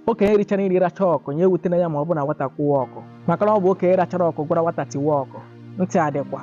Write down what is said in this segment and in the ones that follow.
okenye richara nri racha ọkụ nya ewutena ya ma ọ bụ na nwata kụwa ọkụ maka na ọ bụ okenye rachara ọkụ gwara nwata tiwa ọkụ ntị adịkwa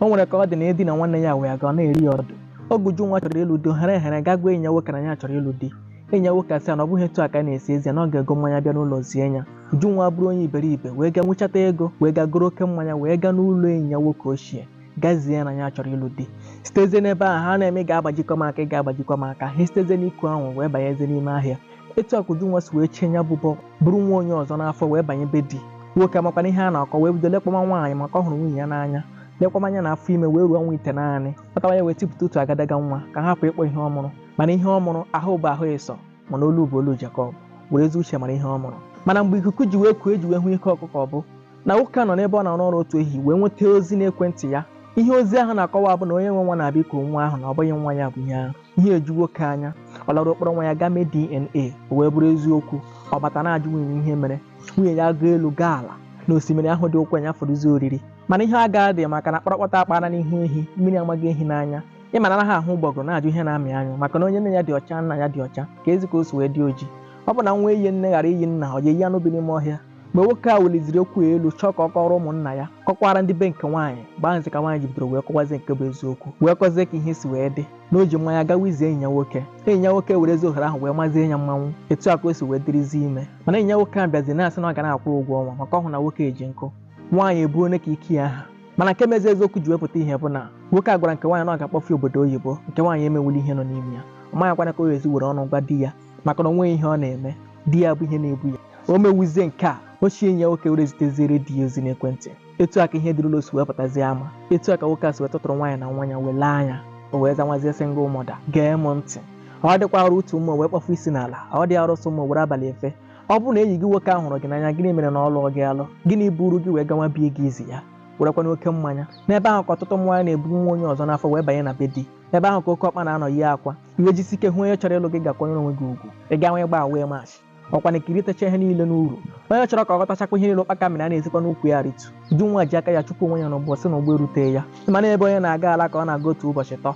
o nwere ka ọ dị na edi na nwanne ya wee ga ọ na-eri ya ọdụ oge Ujunwa chọrọ ịlụ di ohere ehere ga gwa enyi ya nwoke na ya chọrọ ịlụ di enyi ya nwoke asị ya na ọ bụghị etu a ka a na-esi ezi ya na ọ ga-ego mmanya bịa n'ụlọ zie ya Ujunwa bụrụ onye iberibe wee gaa nwechata ego wee gaa goro oke mmanya wee gaa n'ụlọ enyi ya nwoke ochie gaa zie na ya chọrọ ịlụ di sitezie n'ebe ahụ ha na-eme ga-agbajikọ m aka ị ga-agbajikọ m aka ha sitezie n'iku ahụ wee banyezie n'ime ahịa etu a ka Ujunwa si wee chie nya bụ bọ buru nwa onye ọzọ n'afọ wee banye be di nwoke amakwana ihe a na-akọ wee bido lekọma nwaanyị maka ọ hụrụ nwunye ya n'anya lekọma nya na afọ ime wee ruo ọnwa itenaanị kpatawa ya wee tipụta otu agadaga nwa ka a hapụ ịkpọ ihe ọ mụrụ mana ihe ọ mụrụ ahụ bụ ahụ Esau mana olu bụ olu Jacob were ezi uche mara ihe ọ mụrụ mana mgbe ikuku ji wee kuo e ji wee hụ ike ọkụkọ ọ bụ na nwoke a nọ n'ebe ọ na-arụ ọrụ otu ehihie wee nweta ozi n'ekwentị ya ihe ozi ahụ na-akọwa bụ na onye nwe nwa na-abịa iku nwa ahụ na ọ bụghị nwa ya bụ ihe ahụ ihe eju nwoke anya ọ lara ọ kpọrọ nwa ya gaa mee DNA o wee bụrụ eziokwu ọ bata na-ajụ nwunye ya ihe mere nwunye ya gaa elu gaa ala na osimiri ahụ dị ụkwụ ya fọdụzi oriri mana ihe a gaa dị maka na kpọrọkpọtọ a kpara n'ihu ehi mmiri amaghị ehi n'anya ị ma na anaghị ahụ ụgbọgụrụ na-ajụ ihe na-amị anyụ maka na onye nne ya dị ọcha nna ya dị ọcha keezi ka o si wee dị oji ọ bụ na nwa eyi nne ghara iyi nna ọ ga-eyi anụ bi n'ime ọhịa mgbe nwoke a weliziri okwu ya elu chọọ ka ọ kọrọ ụmụnna ya kọkwara ndị be nke nwaanyị mgbe ahụzi ka nwaanyị ji bidoro wee kọwazie nke bụ eziokwu wee kọzie ka ihe si wee dị na o ji mmanya gawa izi enyi ya nwoke enyi ya nwoke werezi ohere ahụ wee mazie ya mmanwụ etu a ka o si wee dịrịzie ime mana enyi ya nwoke a bịazi na-asị na ọ ga na-akwụ ụgwọ ọnwa maka ọ hụ na nwoke ejie nkụ nwaanyị ebuo nya ka ike ya ha mana nke mezi eziokwu ji wepụta ihe bụ na nwoke a gwara nke nwaanyị na ọ ga-akpọfe obodo oyibo nke nwaanyị emewuli ihe nọ n'ime ya ọ maghịkwana ka ọ ga-esi were ọnụ gwa di ya maka na o nweghị ihe ọ na-eme di ya bụ ihe na-ebu ya o mewuzie nke a ochie enyi ya nwoke were ziteziere di ya ozi n'ekwentị etu a ka ihe dị n'ụlọ si wee pụtazie ama etu a ka nwoke a si wee tọtụrụ nwaanyị na nwa ya wee lee anya o wee zanwazie single mother gee m ntị ọ dịkwa arụ otu ụsụ wee kpọfụ isi n'ala ọ dị arụ sị ụsụ were abalị efe ọ bụrụ na enyi gị nwoke ahụ hụrụ gị n'anya gịnị mere na ọ lụọ gị alụ gịnị buru gị wee gawa bie ga izi ya werekwana oke mmanya n'ebe ahụ ka ọtụtụ nwaanyị na-ebu nwa onye ọzọ n'afọ wee banye na be di ebe ahụ ka oke ọkpa na-anọ yi akwa i wee jisi ike hụ onye chọrọ ịlụ gị ga kwanyere onwe gị ugwu ị ga nwee gba wee mash ọkwa na kiritacha ihe niile n'uru onye chọrọ ka ọ ghọtachakwa ihe niile ụkpaka mịrị a na-esikwa n'ukwu ya ritu Ujunwa ji aka ya chụpụ onwe ya n'ụgbọ sị na ụgbọ erute ya mana ebe onye na-aga ala ka ọ na-aga otu ụbọchị tọ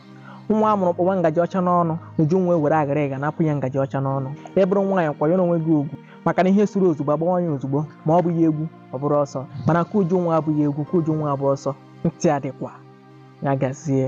nwa a mụrụ kpọwa ngaji ọcha n'ọnụ Ujunwa were aghara ịga napụ ya ngaji ọcha n'ọnụ ị bụrụ nwaanyị kwanyere onwe gị ugwu maka na ihe suru ozugbo a gbawa ya ozugbo ma ọ bụghị egwu ọ bụrụ ọsọ mana nke Ujunwa abụghị egwu nke Ujunwa abụ ọsọ ntị adịkwa ya gazie